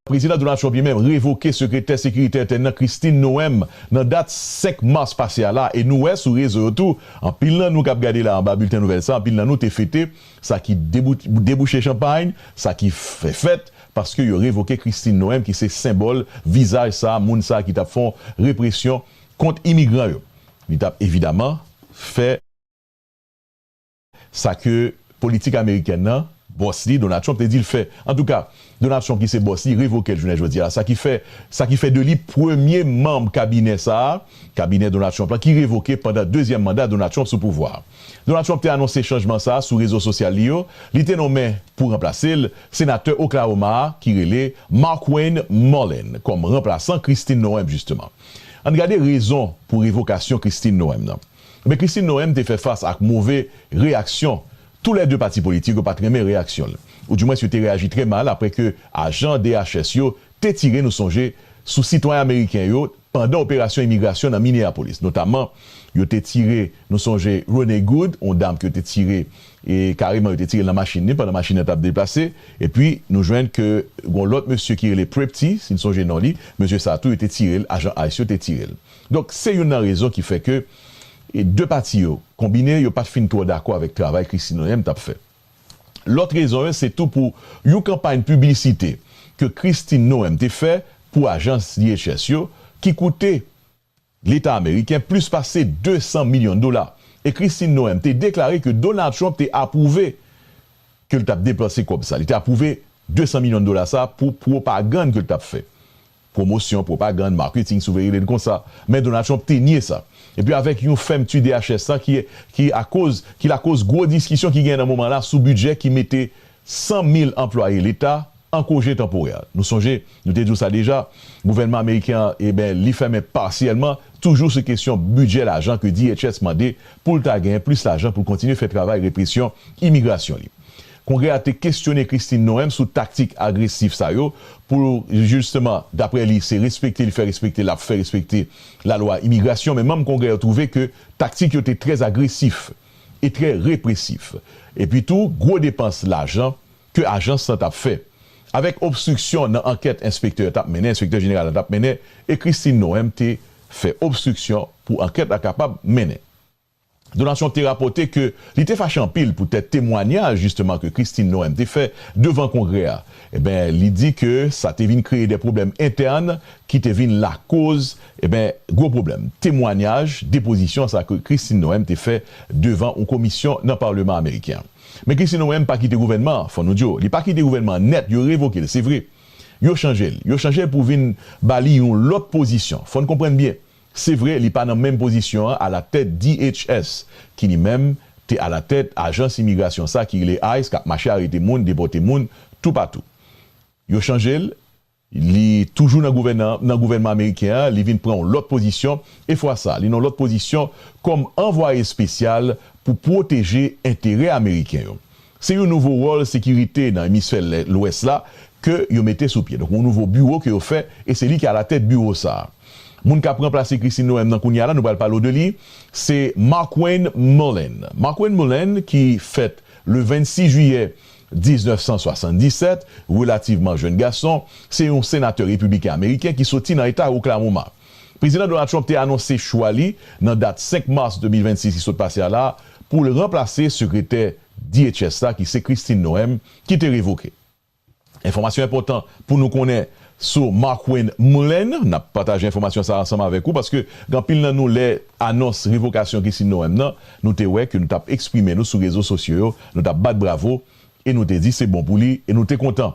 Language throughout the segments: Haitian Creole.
Prezidan Donald Trump li menm revoke Sekretè Sekirite Entèn nan Kristi Noem nan dat 5 Mas pase a la e nou wè sou rezo yo tou anpil nan nou kap gade la anba bilten nouvèl sa anpil nan nou te fete sa ki debouche chanpagn sa ki fè fèt paske yo revoke Kristi Noem ki se senbòl vizaj sa moun sa ki tap fon represyon kont imigran yo li tap evidaman fè. Sa ke politik amerikèn nan, bòs li, Donald Trump, te di l fè. Antouka, Donald Trump ki se bòs li, revoke l jounen jodi a. Sa ki fè, sa ki fè de li premye manm kabinè sa a, kabinè Donald Trump lan, ki revoke pandan dezyèm manda Donald Trump sou pouvwa a. Donald Trump te anonse chanjman sa a sou rezo sosyal li yo. Li te nonmen, pou ranplase l, senatè Oklahoma a, ki rele Markwayne Mullin, kòm ranplasan Kristi Noem, jisteman. Ann gade rezon pou revokasyon Kristi Noem nan. Men Christine Noem te fè fas ak move reyaksyon tou lè 2 pati politik yo pat renmen reyaksyon l ou di mwens yo te reyaji trè mal aprè ke ajan DHS yo te tire nou sonje sou sitwayen ameriken yo pandan operasyon imigrasyon nan Minneapolis notaman yo te tire nou sonje Renee Good yon dam ke yo te tire e kareman yo te tire l nan machin li pandan machin nan tap deplase epi nou jwenn ke gon lòt mesye ki rele Prepti si n sonje non li mesye sa tou yo te tire l ajan ice yo te tire l. Donk se youn nan rezon ki fè ke 2 pati yo konbine yo pat fin twò dakò avèk travay Kristi Noem tap fè. Lòt rezon yo se tou pou youn kanpay piblisite ke Kristi Noem te fè pou ajans DHS yo ki koute leta ameriken plis pase 200 milyon dola e Kristi Noem te deklare ke Donald Trump te apwouve ke l tap depanse kòb sa li te apwouve 200 milyon dola sa pou pwopagann ke l tap fè Pwomosyon, pwopagann, marketing si w vle rele l konsa. Men Donald Trump te nye sa. Epi avèk yon fèmti DHS la ki ki akoz ki lakoz gwo diskisyon ki genyen nan moman la sou bidjè ki mete 100 mil anplwaye leta an koje tanporè. Nou sonje nou te di w sa deja, gouvènman ameriken an eben li fèmen pasyèlman toujou sou kesyon bidjè lajan ke DHS mande pou l ta genyen plis lajan pou l kontinye fè travay represyon imigrasyon li. Kongrè a te kesyone Kristi Noem sou taktik agresif sa yo pou l jisteman, daprè li, se respekte li fè respekte l ap fè respekte lalwa imigrasyon men manm Kongrè yo twouve ke taktik yo te trè agresif e trè represif epi tou gwo depans lajan ke ajans lan t ap fè avèk obstriksyon nan ankèt enspektè yo t ap mennen enspektè jeneral la t ap mennen e Kristi Noem te fè obstriksyon pou ankèt la kapab mennen. Donatyon te rapòte ke li te fache anpil poutèt temwanyaj jisteman ke Christine Noem te fè devan Kongrè a. Eben, li di ke sa te vin kreye de pwoblèm entèn ki te vin lakoz, eben, gwo pwoblèm. Temwanyaj, depozisyon sa ke Christine Noem te fè devan yon komisyon nan Paleman Ameriken an. Men Christine Noem pa kite gouvènman an, fò nou di w. Li pa kite gouvènman an nèt, yo revoke l, se vre. Yo chanje l. Yo chanje l pou vin ba li yon lòt pozisyon. Fò n konprann byen, Se vre li pa nan menm pozisyon an alatèt DHS ki li menm te alatèt ajans imigrasyon sa ki rele ice kap mache arete moun, depòte moun toupatou. Yo chanje l, li toujou nan gouvènan nan gouvènman ameriken an, li vin pran yon lòt pozisyon e fwa sa li nan yon lòt pozisyon kòm anvwaye espesyal pou pwoteje enterè ameriken yo. Se yon nouvo wòl sekirite nan emisfè lwès la ke yo mete sou pye. Donk yon nouvo biwo ke yo fè e se li ki alatèt biwo sa a. Moun kap ranplase Christine Noem nan kounya la nou pral pale w de li se Markwayne Mullin. Markwayne Mullin ki fèt le 26 jiyè 1977, relativman jèn gason, se yon senatè repibliken ameriken ki soti nan eta Oklahoma. Prezidan Donald Trump te anonse chwa li nan dat 5 Mas 2026 ki sot pase a la a pou l ranplase sekretè DHS la ki se Kristi Noem ki te revoke. Enfòmasyon enpòtan pou nou konnen sou Markwayne Mullin, n ap pataje enfòmasyon sa a ansanm avèk ou paske gen anpil nan nou lè anons revokasyon Kristi Noem nan nou te wè ke nou t ap eksprime nou sou rezo sosyo yo, nou t ap bat bravo e nou te di se bon pou li e nou te kontan.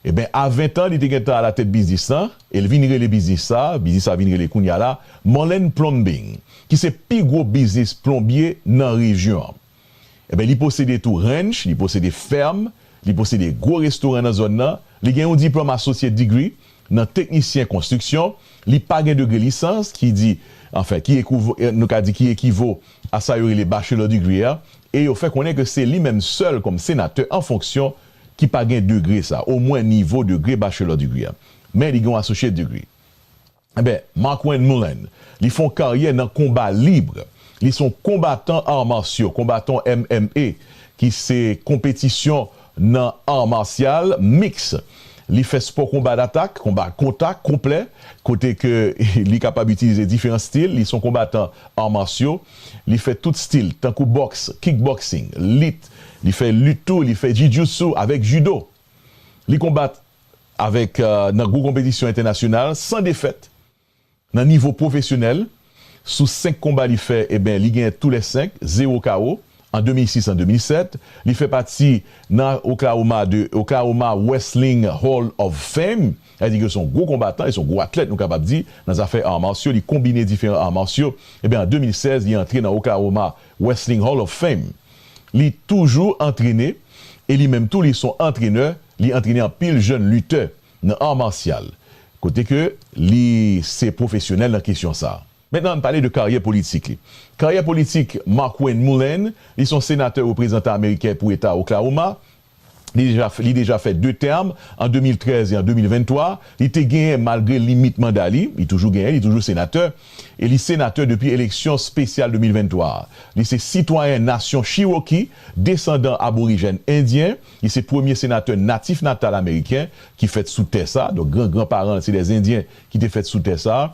Enben, a ventan, li te gen tan alatèt biznis lan, e l vin rele biznis sa, biznis sa vin rele kounye a la, Mullen Plumbing, ki se pi gwo biznis plonbye nan rejyon an. Enben, li posede tou ranch, li posede fèm, li posede gwo restoran nan zòn nan, li gen yon diplòm Associate Degree nan teknisyen konstriksyon, li pa gen degre lisans, ki di, anfen, ki ekouv, nou ka di ki ekivo a sa yo rele Bachelor Degree a, e yo fè konnen ke se li menm sèl kòm senatè an fonksyon ki pa gen degre sa, omwen nivo degre bachelor degree a, men li gen yon associate degree. Enben, Markwayne Mullin, li fè yon karyè nan konba lib, li se yon konbatan arts martiaux, konbatan MMA, ki se konpetisyon nan art martial mixte. Li fè spò konba datak, konba kontak konplè, kote ke li kapab itilize diferan stil, li se yon konbatan arts martiaux. Li fè tout stil, tankou boks, kickboxing, lit, li fè lit tou, li fè jijutsu avèk judo. Li konbat avèk nan gwo konpetisyon entènasyonal san defèt. Nan nivo pwofesyonèl, sou 5 konba li fè, eben li genyen tou lè 5, zewo kawo, an 2006 an 2007. Li fè pati nan Oklahoma de Oklahoma Wrestling Hall of Fame. Sa vle di ke se yon gwo konbatan e se yon gwo atlèt nou kapab di nan zafè arts martiaux, li konbine diferan arts martiaux. Ebyen an 2016 li antre nan Oklahoma Wrestling Hall of Fame. Li toujou antrene e li menm tou li son antrenè, li antrene anpil jèn lutè nan arts martial kote ke li se pwofesyonèl nan kesyon sa. Mentnan ann pale de karyè politik li. Karyè politik Markwayne Mullane, li son senatè reprezantan ameriken pou eta Oklahoma, li deja fè 2 tèm, an 2013 e an 2023. Li te genyen malgre limit manda li, li toujou genyen, li toujou senatè, e li senatè depi eleksyon spesyal 2023 a. Li se sitwayen nasyon Chiwoki, desandan aborijèn endyen. Li se premye senatè natif natal ameriken ki fèt sou tè sa. Donk gran gran paran l se de zendyen ki te fèt sou tè sa.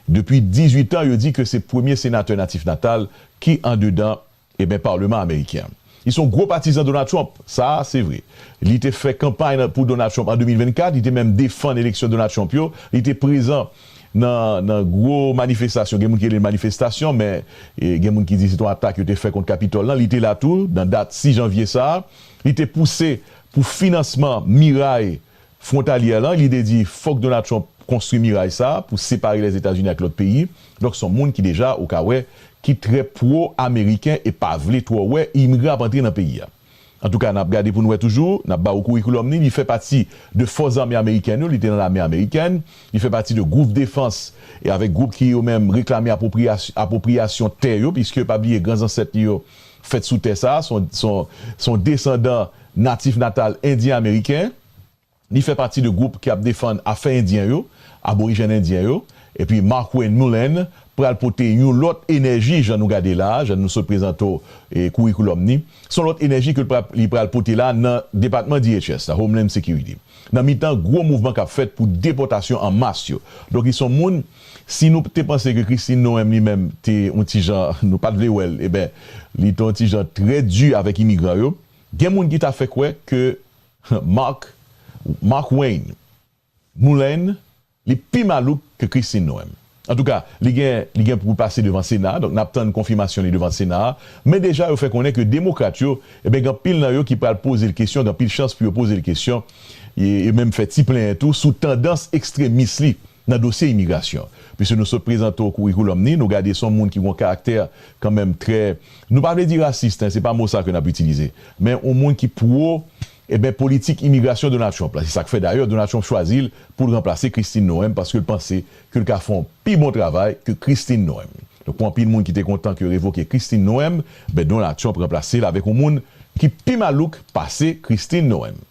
Depi 18 an yo di ke se premye senatè natif natal ki andedan Eben parleman ameriken an Li son gwo patizan Donald Trump sa se vre Li te fè kanpay nan pou Donald Trump an 2024 Li te menm defann eleksyon Donald Trump yo Li te prezan nan nan gwo manifestasyon gen moun ki rele l manifestasyon men gen moun ki di se t on atak yo te fè kont Capitol lan Li te la tou nan dat 6 janvye sa Li te pouse pou finansman miray Frontalyè lan, li te di fòk Donald Trump konstwi miray sa a pou separe Lèzetazini ak lòt peyi. Donk s on moun ki deja, ou ka wè, ki trè pwo ameriken e pa vle twò wè imigran ap antre nan peyi a. Antouka, n ap gade pou n wè toujou, n ap ba ou kourikoulòm ni, li fè pati de fòs zame amerikèn yo, li te nan lame amerikèn, li fè pati de gwoup defans e avèk gwoup ki yo menm reklame apwopriya apwopriyasyon tè yo piske pa bliye gran zansèt li yo fèt sou tè sa a, se yon desandan natif natal endyen ameriken, li fè pati de gwoup ki ap defann afè endyen yo, aborijèn endyen yo, epi Markwayne Mullin pral pote yon lòt enèji jan nou gade la a, jan nou sot prezante w kourikoulòm ni, se yon lòt enèji ke li pral pote la a nan depatman DHS la, Homeland Security, nan mitan gwo mouvman k ap fèt pou depòtasyon an mas yo. Donk li se yon moun Si nou te panse ke Christine Noem li menm te yon ti jan nou pat vle wèl eben li te yon ti jan trè di avèk imigran yo gen moun ki ta fè kwè ke Marc Marc-Wayne Moulain li pi malouk ke Christine Noem antouka li gen li gen pou pase devan sena donk nap tann konfimasyon li devan sena a men deja yo fè konnen ke demokrat yo eben gen anpil nan yo ki pral pozel kesyon gen anpil chans pou yo pozel kesyon e menm fè ti plenyen tou sou tandans ekstremis li. nan dosye imigrasyon pwiske nou sot prezante w kourikoulòm ni, nou gade son moun ki gon karaktè kanmenm trè nou pa vle di rasist hein se pa mo sa ke nap itilize men on moun ki pwo eben politik imigrasyon Donald Trump la se sak fè dayè Donald Trump chwazi l poul ranplase Christine Noem paske l panse ke l ka fè on pi bon travay ke Christine Noem donk pou anpil moun ki te kontan ke yo revoke Christine Noem ben Donald Trump ranplase l avèk on moun ki pi malouk pase Christine Noem.